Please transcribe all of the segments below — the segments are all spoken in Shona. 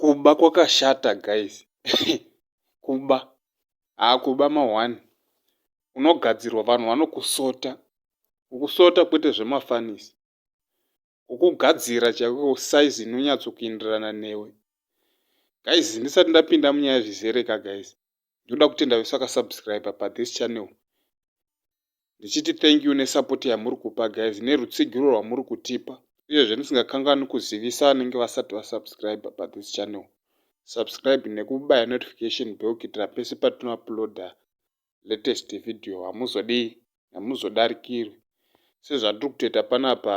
kuba kwakashata guys kuba haakuba ma1 unogadzirwa vanhu vanokusota ukusota kwete zvemafanisi kukugadzira chaiko size inonyatso kuenderana newe guys ndisati ndapinda munyaya zvizere ka guys ndoda kutenda vese vakasubscribe pa this channel ndichiti thank you nesupport yamuri kupa guys nerutsigiro rwamuri kutipa uyezve ndisingakanganwi kuzivisa vanenge vasati vasubscribe pa this channel subscribe nekubaya notification bell kuitira pese patinouploada latest video hamuzodii hamuzodarikirwi sezvatiri kutoita panapa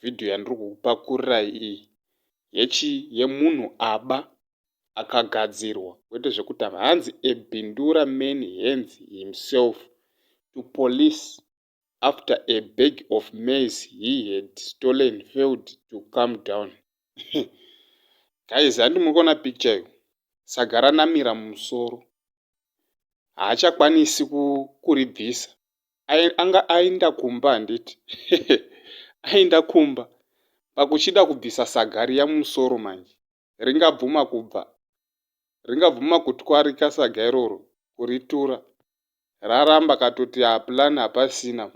video yandiri kukupakurirai iyi yechi yemunhu aba akagadzirwa kwete zvekutamba hanzi ebindura man hands himself to police after a bag of maize he had stolen failed to come down guys handi muri kuona picture yo saga ranamira mumusoro haachakwanisi kuribvisa anga ainda kumba handiti ainda kumba pakuchida kubvisa saga riya mumusoro manje ringabvuma kubva, ringabvuma kutwarika saga iroro, kuritura. Raramba katoti haa plan hapasina,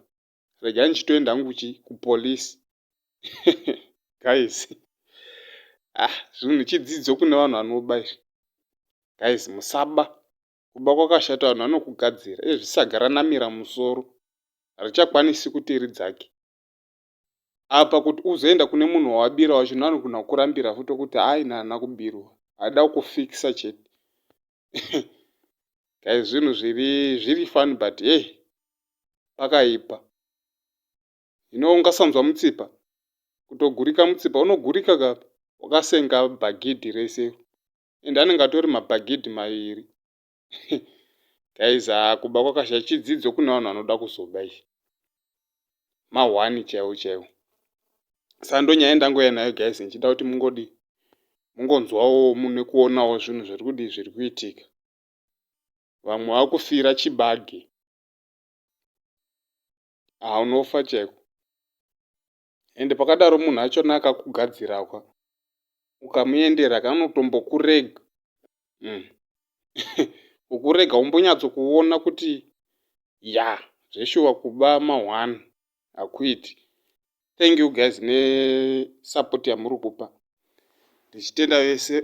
regai ndichitoenda hangu kuchi, kupolice. Guys. Ah, zvinhu chidzidzo kune vanhu vanoba izvi. Guys, musaba. Kuba kwakashata vanhu vanokugadzira. Izvi saga ranamira musoro. Harichakwanisi kuti ridzake. apa kuti uzoenda kune munhu wawabira wacho nanogona kukurambira futi okuti haa ini haana kubirwa haada kukufikisa chete kai zvinhu zviri zviri fani but hey pakaipa ino ungasanzwa mutsipa kutogurika mutsipa unogurika ka wakasenga bhagidhi rese and anenge atori mabhagidhi maviri Guys haa kuba kwakasha chidzidzo kune vanhu vanoda kuzoba izvi. Mahwani chaiwo chaiwo. Sando nyaya ndangoya nayo guys ndichida kuti mungodi mungonzwawo mune kuonawo zvinhu zviri kudi zviri kuitika. Vamwe vakufira chibage. Haa unofa chaiko. and pakadaro munhu achona akakugadzirakwa ukamuendera kanotombokurega mm. ukurega umbonyatso kuona kuti ya zveshuwa kuba mahwani hakuiti thank you guys nesupport yamuri kupa ndichitenda vese